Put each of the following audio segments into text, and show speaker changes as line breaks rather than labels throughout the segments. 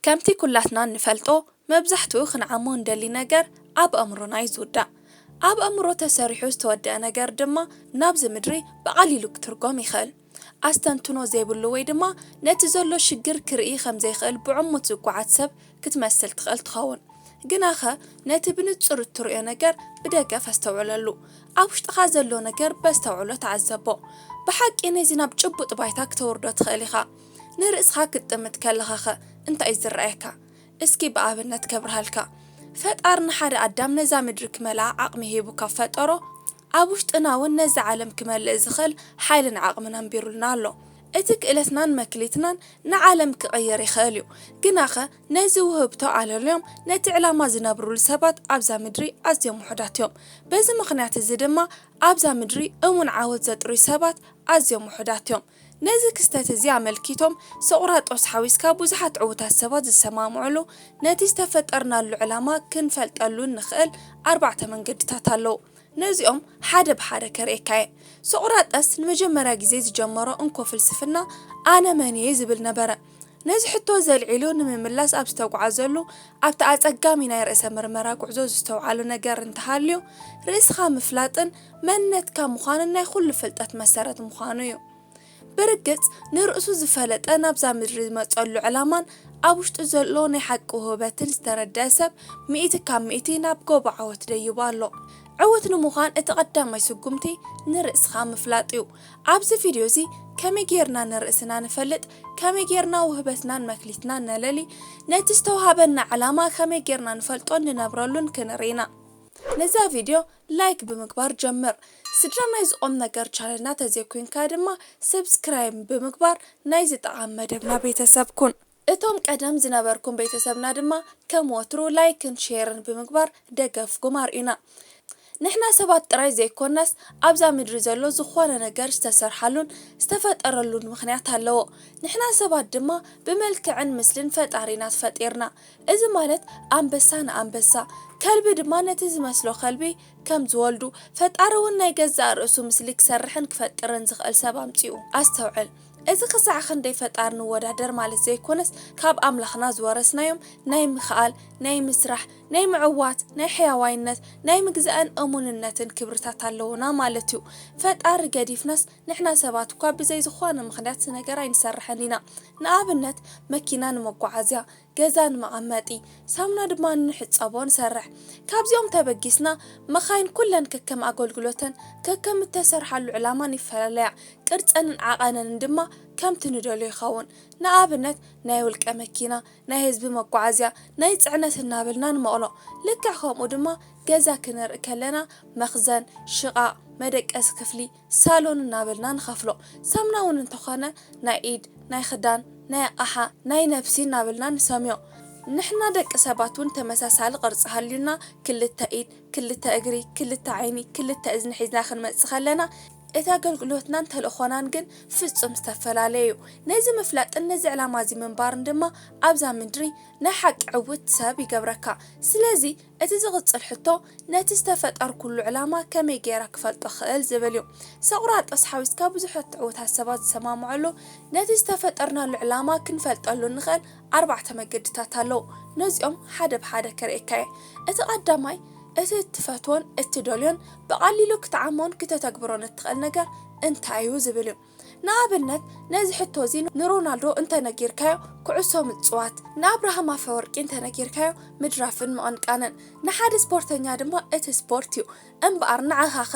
ከምቲ ኩላትና እንፈልጦ መብዛሕትኡ ክንዓሞ እንደሊ ነገር ኣብ ኣእምሮና እዩ ዝውዳእ። ኣብ ኣእምሮ ተሰሪሑ ዝተወደኣ ነገር ድማ ናብዚ ምድሪ ብቐሊሉ ክትርጎም ይኽእል። ኣስተንትኖ ዘይብሉ ወይ ድማ ነቲ ዘሎ ሽግር ክርኢ ከም ዘይክእል ብዕሙት ዝጓዓት ሰብ ክትመስል ትኽእል ትኸውን። ግናኸ ነቲ ብንጹር እትርእዮ ነገር ብደገፍ ኣስተውዕለሉ። ኣብ ውሽጥኻ ዘሎ ነገር በስተውዕሎ ተዓዘቦ። ብሓቂ ነዚ ናብ ጭቡጥ ባይታ ክተውርዶ ትኽእል ኢኻ። ንርእስኻ ክትጥምት ከለኻኸ እንታይ እዩ ዝረኣየካ? እስኪ ብኣብነት ከብርሃልካ። ፈጣሪ ንሓደ ኣዳም ነዛ ምድሪ ክመልኣ ዓቕሚ ሂቡ ካብ ፈጠሮ፣ ኣብ ውሽጥና እውን ነዛ ዓለም ክመልእ ዝኽእል ሓይልን ዓቕምን ኣንቢሩልና ኣሎ። እቲ ክእለትናን መክሊትናን ንዓለም ክቕይር ይኽእል እዩ። ግናኸ ነዚ ውህብቶ ኣለልዮም ነቲ ዕላማ ዝነብሩሉ ሰባት ኣብዛ ምድሪ ኣዝዮም ውሑዳት እዮም። በዚ ምኽንያት እዚ ድማ ኣብዛ ምድሪ እሙን ዓወት ዘጥርዩ ሰባት ኣዝዮም ውሑዳት እዮም። ነዚ ክስተት እዚ ኣመልኪቶም ሶቕራጦስ ሓዊስካ ብዙሓት ዕዉታት ሰባት ዝሰማምዑሉ፣ ነቲ ዝተፈጠርናሉ ዕላማ ክንፈልጠሉ እንኽእል ኣርባዕተ መንገድታት ኣለዉ። ነዚኦም ሓደ ብሓደ ከርእየካ እየ። ሶቕራጠስ ንመጀመርያ ግዜ ዝጀመሮ እንኮ ፍልስፍና ኣነ መን እየ ዝብል ነበረ። ነዚ ሕቶ እዚ ኣልዒሉ ንምምላስ ኣብ ዝተጉዓዘሉ ኣብቲ ኣጸጋሚ ናይ ርእሰ ምርመራ ጉዕዞ ዝስተውዓሉ ነገር እንተሃልዩ፣ ርእስኻ ምፍላጥን መንነትካ ምዃንን ናይ ኩሉ ፍልጠት መሰረት ምዃኑ እዩ። ብርግጽ ንርእሱ ዝፈለጠ ናብዛ ምድሪ ዝመጸሉ ዕላማን ኣብ ውሽጡ ዘሎ ናይ ሓቂ ውህበትን ዝተረደኣ ሰብ ሚእቲ ካብ ሚእቲ ናብ ጎቦ ዓወት ደይቡ ኣሎ። ዕውት ንምዃን እቲ ቀዳማይ ስጉምቲ ንርእስኻ ምፍላጥ እዩ። ኣብዚ ቪድዮ እዚ ከመይ ጌርና ንርእስና ንፈልጥ፣ ከመይ ጌርና ውህበትናን መክሊትናን ነለሊ፣ ነቲ ዝተውሃበና ዕላማ ከመይ ጌርና ንፈልጦን ንነብረሉን ክንርኢ ኢና። ነዛ ቪድዮ ላይክ ብምግባር ጀምር። ስድራ ናይዚ ቁምነገር ቻነልና ተዘይኮይንካ ድማ ሰብስክራይብ ብምግባር ናይዚ ጠቓሚ መደብና ቤተሰብ ኩን። እቶም ቀደም ዝነበርኩም ቤተሰብና ድማ ከም ወትሩ ላይክን ሼርን ብምግባር ደገፍኩም ኣርእዩና። ንሕና ሰባት ጥራይ ዘይኮናስ ኣብዛ ምድሪ ዘሎ ዝኾነ ነገር ዝተሰርሓሉን ዝተፈጠረሉን ምኽንያት ኣለዎ። ንሕና ሰባት ድማ ብመልክዕን ምስልን ፈጣሪ ኢና ትፈጢርና። እዚ ማለት ኣንበሳ ንኣንበሳ፣ ከልቢ ድማ ነቲ ዝመስሎ ከልቢ ከም ዝወልዱ፣ ፈጣሪ ውን ናይ ገዛእ ርእሱ ምስሊ ክሰርሕን ክፈጥርን ዝኽእል ሰብ ኣምጺኡ። ኣስተውዕል! እዚ ክሳዕ ክንደይ ፈጣር ንወዳደር ማለት ዘይኮነስ ካብ ኣምላኽና ዝወረስናዮም ናይ ምክኣል፣ ናይ ምስራሕ፣ ናይ ምዕዋት፣ ናይ ሕያዋይነት፣ ናይ ምግዛእን እሙንነትን ክብርታት ኣለዉና ማለት እዩ። ፈጣሪ ገዲፍናስ ንሕና ሰባት እኳ ብዘይ ዝኾነ ምኽንያት ነገር ኣይንሰርሕን ኢና። ንኣብነት መኪና ንመጓዓዝያ፣ ገዛ ንመቐመጢ ሳሙና ድማ እንሕጸቦ ንሰርሕ። ካብዚኦም ተበጊስና መኻይን ኩለን ከከም ኣገልግሎተን ከከም እተሰርሓሉ ዕላማን ይፈላለያ፣ ቅርጸንን ዓቐነንን ድማ ከምቲ ንደልዮ ይኸውን። ንኣብነት ናይ ውልቀ መኪና፣ ናይ ህዝቢ መጓዓዝያ፣ ናይ ጽዕነት እናበልና ንመቕሎ። ልክዕ ከምኡ ድማ ገዛ ክንርኢ ከለና መኽዘን፣ ሽቓቕ፣ መደቀሲ ክፍሊ፣ ሳሎን እናበልና ንኸፍሎ። ሳምና እውን እንተኾነ ናይ ኢድ፣ ናይ ኽዳን፣ ናይ ኣቕሓ፣ ናይ ነብሲ እናበልና ንሰምዮ። ንሕና ደቂ ሰባት እውን ተመሳሳሊ ቅርፂ ሃልዩና ክልተ ኢድ፣ ክልተ እግሪ፣ ክልተ ዓይኒ፣ ክልተ እዝኒ ሒዝና ክንመፅእ ከለና እቲ ኣገልግሎትናን ተልእኾናን ግን ፍፁም ዝተፈላለየ እዩ። ነዚ ምፍላጥን ነዚ ዕላማ እዚ ምንባርን ድማ ኣብዛ ምድሪ ናይ ሓቂ ዕውት ሰብ ይገብረካ። ስለዚ እቲ ዝቕጽል ሕቶ ነቲ ዝተፈጠርኩሉ ዕላማ ከመይ ገይረ ክፈልጦ እኽእል ዝብል እዩ። ሰቁራጦስ ሓዊስካ ብዙሐት ትዕዉታት ሰባት ዝሰማምዑሉ ነቲ ዝተፈጠርናሉ ዕላማ ክንፈልጠሉ እንኽእል ኣርባዕተ መገድታት ኣለዉ። ነዚኦም ሓደ ብሓደ ከርእየካ እየ። እቲ ቀዳማይ እቲ እትፈትዎን እትደልዮን ብቐሊሉ ክትዓሞን ክተተግብሮን እትኽእል ነገር እንታይ እዩ ዝብል እዩ። ንኣብነት ነዚ ሕቶ እዚ ንሮናልዶ እንተ ነጊርካዮ ኩዕሶ ምጽዋት፣ ንኣብርሃም ኣፈወርቂ እንተ ነጊርካዮ ምድራፍን ምቕንቃንን፣ ንሓደ ስፖርተኛ ድማ እቲ ስፖርት እዩ። እምበኣር ንዓኻኸ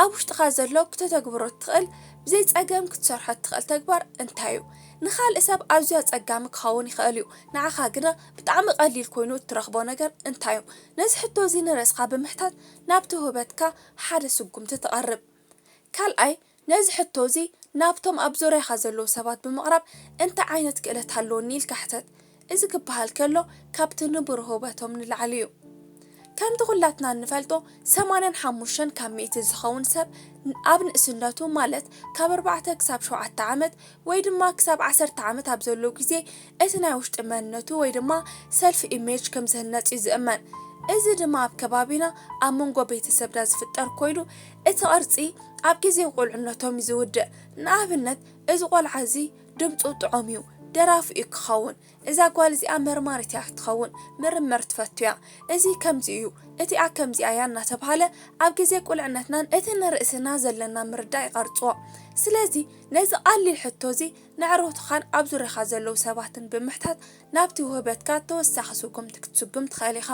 ኣብ ውሽጥኻ ዘሎ ክተተግብሮ እትኽእል ብዘይ ጸገም ክትሰርሖ እትኽእል ተግባር እንታይ እዩ? ንኻልእ ሰብ ኣዝዩ ኣጸጋሚ ክኸውን ይኽእል እዩ፣ ንዓኻ ግና ብጣዕሚ ቀሊል ኮይኑ እትረኽቦ ነገር እንታይ እዩ? ነዚ ሕቶ እዚ ንርእስኻ ብምሕታት ናብቲ ውህበትካ ሓደ ስጉምቲ ትቐርብ። ካልኣይ፣ ነዚ ሕቶ እዚ ናብቶም ኣብ ዙርያኻ ዘለዉ ሰባት ብምቕራብ እንታይ ዓይነት ክእለት ሃለወኒ ኢልካ ሕተት። እዚ ክበሃል ከሎ ካብቲ ንቡር ህውበቶም ንላዕሊ እዩ። ከምቲ ኩላትና እንፈልጦ ሰማንያን ሓሙሽተን ካብ ሚእቲ ዝኸውን ሰብ ኣብ ንእስነቱ ማለት ካብ ኣርባዕተ ክሳብ ሸውዓተ ዓመት ወይ ድማ ክሳብ ዓሰርተ ዓመት ኣብ ዘሎ ግዜ እቲ ናይ ውሽጢ መንነቱ ወይ ድማ ሰልፍ ኢሜጅ ከም ዝህነጽ እዩ ዝእመን። እዚ ድማ ኣብ ከባቢና ኣብ መንጎ ቤተሰብና ዝፍጠር ኮይኑ እቲ ቅርጺ ኣብ ግዜ ቁልዕነቶም እዩ ዝውድእ። ንኣብነት እዚ ቆልዓ እዚ ድምጹ ጥዑም እዩ ደራፊ እዩ ክኸውን። እዛ ጓል እዚኣ መርማሪት እያ ክትኸውን ምርምር ትፈቱ እያ። እዚ ከምዚ እዩ እቲኣ ከምዚኣ እያ እናተብሃለ ኣብ ግዜ ቁልዕነትናን እቲ ንርእስና ዘለና ምርዳእ ይቀርጽዎ። ስለዚ ነዚ ቀሊል ሕቶ እዚ ነዕሩትኻን ኣብ ዙርያኻ ዘለዉ ሰባትን ብምሕታት ናብቲ ውህበትካ ተወሳኺ ስጉምቲ ክትስጉም ትኽእል ኢኻ።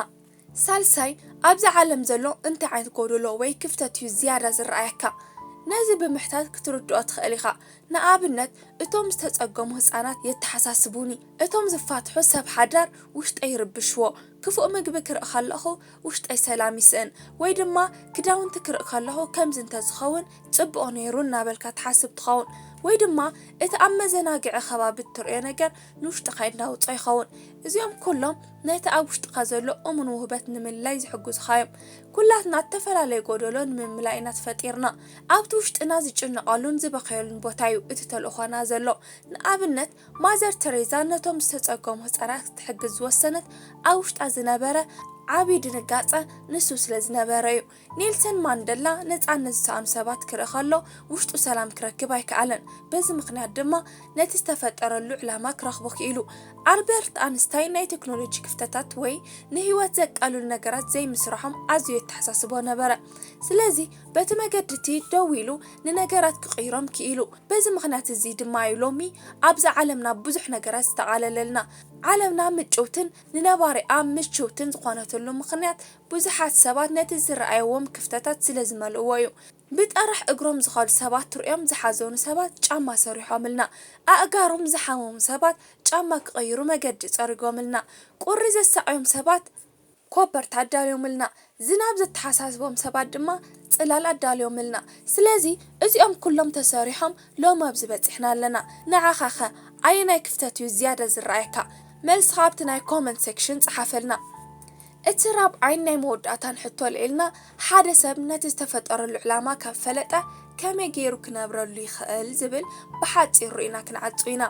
ሳልሳይ፣ ኣብዛ ዓለም ዘሎ እንታይ ዓይነት ጎደሎ ወይ ክፍተት እዩ ዝያዳ ዝረኣየካ? ነዚ ብምሕታት ክትርድኦ ትኽእል ኢኻ። ንኣብነት፣ እቶም ዝተጸገሙ ህጻናት የተሓሳስቡኒ፣ እቶም ዝፋትሑ ሰብ ሓዳር ውሽጠይ ይርብሽዎ፣ ክፉእ ምግቢ ክርኢ ከለኹ ውሽጠይ ሰላም ይስእን፣ ወይ ድማ ክዳውንቲ ክርኢ ከለኹ ከምዚ እንተ ዝኸውን ጽቡቕ ነይሩ እናበልካ ትሓስብ ትኸውን። ወይ ድማ እቲ ኣብ መዘናግዒ ከባቢ እትርእዮ ነገር ንውሽጥኻ የናውጾ ይኸውን። እዚኦም ኩሎም ነቲ ኣብ ውሽጥኻ ዘሎ እሙን ውህበት ንምልላይ ዝሕግዙኻ እዮም። ኩላትና እተፈላለየ ጎደሎ ንምምላእ ኢና ተፈጢርና። ኣብቲ ውሽጥና ዝጭነቐሉን ዝበኸየሉን ቦታ እዩ እቲ ተልእኾና ዘሎ። ንኣብነት ማዘር ተሬዛ ነቶም ዝተጸገሙ ህጻናት ክትሕግዝ ዝወሰነት ኣብ ውሽጣ ዝነበረ ዓቢ ድንጋጸ ንሱ ስለ ዝነበረ እዩ። ኔልሰን ማንደላ ነጻነት ዝሰኣኑ ሰባት ክርኢ ከሎ ውሽጡ ሰላም ክረክብ ኣይከኣለን፣ በዚ ምኽንያት ድማ ነቲ ዝተፈጠረሉ ዕላማ ክረኽቦ ክኢሉ። ኣልበርት ኣንስታይን ናይ ቴክኖሎጂ ክፍተታት ወይ ንህይወት ዘቃልሉ ነገራት ዘይምስርሖም ኣዝዩ የተሓሳስቦ ነበረ። ስለዚ በቲ መገዲ እቲ ደው ኢሉ ንነገራት ክቕይሮም ክኢሉ። በዚ ምኽንያት እዚ ድማ እዩ ሎሚ ኣብዛ ዓለምና ብዙሕ ነገራት ዝተቓለለልና። ዓለምና ምጭውትን ንነባሪኣ ምችውትን ዝኾነትሉ ምኽንያት ብዙሓት ሰባት ነቲ ዝረኣይዎም ክፍተታት ስለ ዝመልእዎ'ዩ። ብጠራሕ እግሮም ዝኸዱ ሰባት ትርእዮም ዝሓዘኑ ሰባት ጫማ ሰሪሖምልና። ኣእጋሮም ዝሓመሙ ሰባት ጫማ ክቕይሩ መገዲ ጸሪጎምልና። ቁሪ ዘሳቕዮም ሰባት ኮበርታ ኣዳልዮምልና። ዝናብ ዘተሓሳስቦም ሰባት ድማ ጽላል ኣዳልዮምልና። ስለዚ እዚኦም ኩሎም ተሰሪሖም ሎሚ ኣብዚ በጺሕና ኣለና። ንዓኻ'ኸ ኣየናይ ክፍተት'ዩ ዝያዳ ዝረኣየካ? መልስኻ ኣብቲ ናይ ኮመንት ሴክሽን ጸሓፈልና። እቲ ራብዓይን ናይ መወዳእታን ሕቶ ኣልዒልና፣ ሓደ ሰብ ነቲ ዝተፈጠረሉ ዕላማ ካብ ፈለጠ ከመይ ገይሩ ክነብረሉ ይኽእል ዝብል ብሓጺሩ ርኢና ክንዓጹ ኢና።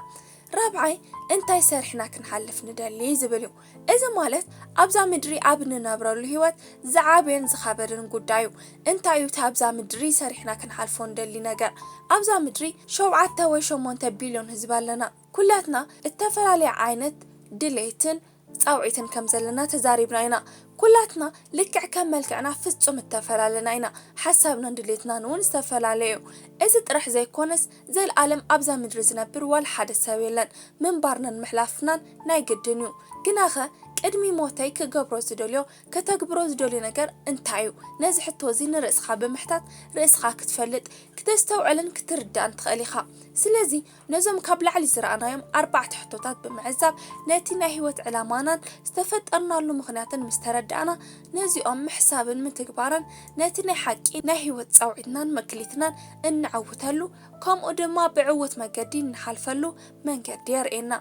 ራብዓይ እንታይ ሰሪሕና ክንሓልፍ ንደሊ ዝብል እዩ። እዚ ማለት ኣብዛ ምድሪ ኣብ እንነብረሉ ህይወት ዝዓበየን ዝኸበደን ጉዳይ እዩ። እንታይ እዩ እቲ ኣብዛ ምድሪ ሰሪሕና ክንሓልፎ ንደሊ ነገር? ኣብዛ ምድሪ ሸውዓተ ወይ ሸሞንተ ቢልዮን ህዝቢ ኣለና። ኩላትና እተፈላለየ ዓይነት ድሌትን ጻውዒትን ከም ዘለና ተዛሪብና ኢና። ኩላትና ልክዕ ከም መልክዕና ፍጹም እተፈላለና ኢና፣ ሓሳብናን ድሌትናን እውን ዝተፈላለየ እዩ። እዚ ጥራሕ ዘይኰነስ፣ ዘለኣለም ኣብዛ ምድሪ ዝነብር ዋላ ሓደ ሰብ የለን፣ ምንባርናን ምሕላፍናን ናይ ግድን እዩ። ግናኸ ቅድሚ ሞተይ ክገብሮ ዝደልዮ፣ ከተግብሮ ዝደልዮ ነገር እንታይ እዩ? ነዚ ሕቶ እዚ ንርእስኻ ብምሕታት ርእስኻ ክትፈልጥ፣ ክተስተውዕልን ክትርዳእን ትኽእል ኢኻ። ስለዚ፣ ነዞም ካብ ላዕሊ ዝረኣናዮም ኣርባዕተ ሕቶታት ብምዕዛብ ነቲ ናይ ህይወት ዕላማናን ዝተፈጠርናሉ ምኽንያትን ምስ ተረዳእና፣ ነዚኦም ምሕሳብን ምትግባርን ነቲ ናይ ሓቂ ናይ ህይወት ጻውዒትናን መክሊትናን እንዕውተሉ ከምኡ ድማ ብዕዉት መገዲ እንሓልፈሉ መንገዲ የርእየና።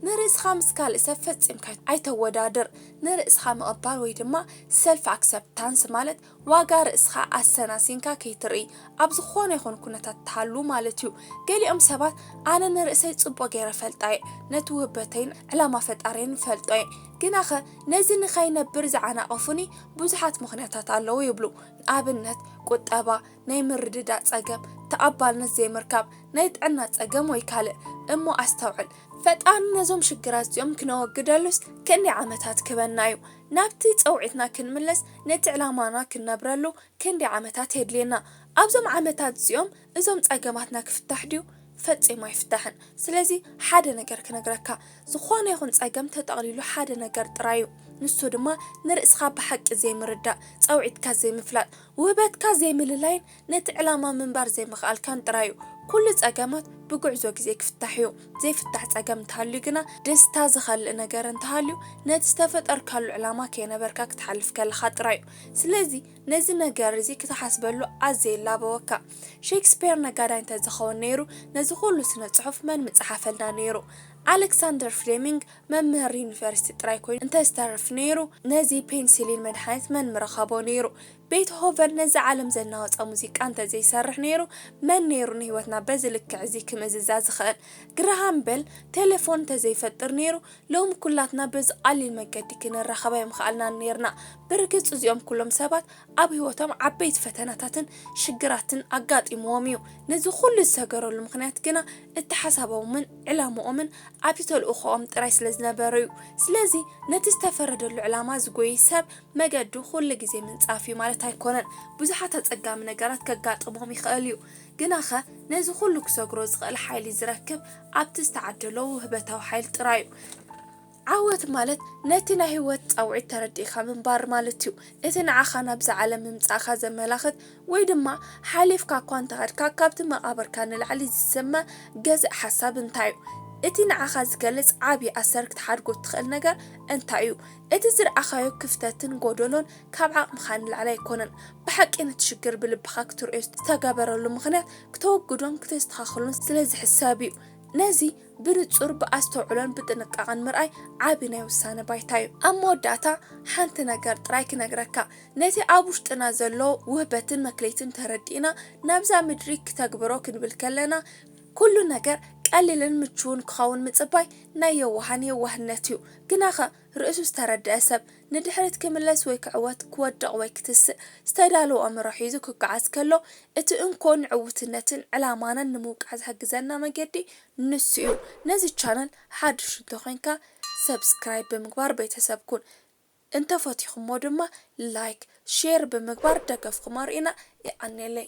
ንርእስኻ ምስ ካልእ ሰብ ፈጺምካ ኣይተወዳድር። ንርእስኻ ምቕባል ወይ ድማ ሰልፍ ኣክሰፕታንስ ማለት፣ ዋጋ ርእስኻ ኣሰናሲንካ ከይትርኢ ኣብ ዝኾነ ይኹን ኩነታት ትሃሉ ማለት እዩ። ገሊኦም ሰባት ኣነ ንርእሰይ ጽቡቕ ገይረ እፈልጣ እየ፣ ነቲ ውህበተይን ዕላማ ፈጣሪየይን እፈልጦ እየ፣ ግናኸ ነዚ ንኸይነብር ዝዓናቐፉኒ ብዙሓት ምኽንያታት ኣለዉ ይብሉ። ንኣብነት ቁጠባ፣ ናይ ምርድዳእ ጸገም፣ ተቐባልነት ዘይምርካብ፣ ናይ ጥዕና ጸገም ወይ ካልእ። እሞ ኣስተውዕል! ፈጣሪ ነዞም ሽግራት እዚኦም ክነወግደሉስ ክንደይ ዓመታት ክህበና እዩ? ናብቲ ጸውዒትና ክንምለስ ነቲ ዕላማና ክንነብረሉ ክንደይ ዓመታት የድልየና? ኣብዞም ዓመታት እዚኦም እዞም ጸገማትና ክፍታሕ ድዩ? ፈጺሙ ኣይፍታሕን። ስለዚ ሓደ ነገር ክነግረካ፣ ዝኾነ ይኹን ጸገም ተጠቕሊሉ ሓደ ነገር ጥራይ እዩ። ንሱ ድማ ንርእስኻ ብሓቂ ዘይምርዳእ፣ ጸውዒትካ ዘይምፍላጥ፣ ውህበትካ ዘይምልላይን ነቲ ዕላማ ምንባር ዘይምኽኣልካን ጥራዩ። ኩሉ ጸገማት ብጉዕዞ ግዜ ክፍታሕዩ። ዘይፍታሕ ጸገም እንተሃልዩ ግና ደስታ ዝኸልእ ነገር እንተሃልዩ ነቲ ዝተፈጠርካሉ ዕላማ ከይነበርካ ክትሓልፍ ከለኻ ጥራዩ። ስለዚ ነዚ ነገር እዚ ክትሓስበሉ ኣዝየ ይላበወካ። ሼክስፔር ነጋዳይ እንተዝኸውን ነይሩ ነዚ ኩሉ ስነ ጽሑፍ መን ምጸሓፈልና ነይሩ። ኣለክሳንደር ፍሌሚንግ መምህር ዩኒቨርሲቲ ጥራይ ኮይኑ እንተዝተርፍ ነይሩ ነዚ ፔንሲሊን መድሓኒት መን ምረኸቦ ነይሩ። ቤትሆቨን ነዚ ዓለም ዘናወጸ ሙዚቃ እንተ ዘይሰርሕ ነይሩ፣ መን ነይሩ ንህይወትና በዚ ልክዕ እዚ ክምእዝዛ ዝኽእል? ግርሃም በል ቴለፎን እንተ ዘይፈጥር ነይሩ፣ ሎሚ ኵላትና በዚ ቐሊል መገዲ ክንራኸብ ኣይምኸኣልናን ኔርና። ብርግጽ እዚኦም ኵሎም ሰባት ኣብ ህይወቶም ዓበይቲ ፈተናታትን ሽግራትን ኣጋጢምዎም ኢዩ። ነዚ ዅሉ ዝሰገረሉ ምኽንያት ግና እቲ ሓሳቦምን ዕላምኦምን ኣብቲ ተልእኾኦም ጥራይ ስለ ዝነበረ ኢዩ። ስለዚ ነቲ ዝተፈረደሉ ዕላማ ዝጐዪ ሰብ፣ መገዱ ኩሉ ግዜ ምንጻፍ እዩ ማለት ኣይኮነን። ብዙሓት ኣጸጋሚ ነገራት ከጋጥሞም ይኸእል እዩ። ግናኸ ነዚ ኩሉ ክሰግሮ ዝኸእል ሓይሊ ዝረክብ ኣብቲ ዝተዓደሎ ውህበታዊ ሓይሊ ጥራይ እዩ። ዓወት ማለት ነቲ ናይ ህይወት ጻውዒት ተረዲእካ ምንባር ማለት እዩ። እቲ ንዓኻ ናብዚ ዓለም ምምጻእካ ዘመላኽት ወይ ድማ ሓሊፍካ እኳ እንተኸድካ ካብቲ መቓብርካ ንላዕሊ ዝስመ ገዛኢ ሓሳብ እንታይ እዩ? እቲ ንዓኻ ዝገልጽ ዓቢ ኣሰር ክትሓድጎ እትኸእል ነገር እንታይ እዩ? እቲ ዝርኣኻዮ ክፍተትን ጎደሎን ካብ ዓቕምኻ ንላዕሊ ኣይኮነን። ብሓቂ ነቲ ሽግር ብልብኻ ክትርእዮ ዝተገበረሉ ምኽንያት ክተወግዶን ክተስተኻኽሎን ስለ ዝሕሰብ እዩ። ነዚ ብንጹር ብኣስተውዕሎን ብጥንቃቐን ምርኣይ ዓቢ ናይ ውሳነ ባይታ እዩ። ኣብ መወዳእታ ሓንቲ ነገር ጥራይ ክነግረካ፣ ነቲ ኣብ ውሽጥና ዘሎ ውህበትን መክሊትን ተረዲእና ናብዛ ምድሪ ክተግብሮ ክንብል ከለና፣ ኩሉ ነገር ቀሊልን ምቹውን ክኸውን ምጽባይ ናይ የዋሃን የዋህነት እዩ። ግናኸ ርእሱ ዝተረድኣ ሰብ፣ ንድሕሪት ክምለስ ወይ ክዕወት፣ ክወድቕ ወይ ክትስእ፣ ዝተዳለወ ኣእምሮ ሒዙ ክጓዓዝ ከሎ፣ እቲ እንኮ ንዕውትነትን ዕላማናን ንምውቃዕ ዝሕግዘና መገዲ ንሱ እዩ። ነዚ ቻነል ሓዱሽ እንተኾይንካ Subscribe ብምግባር ቤተሰብ ኩን። እንተፈቲኹሞ ድማ Like፣ Share ብምግባር ደገፍኹም ኣርእዩና። የቐኔለይ!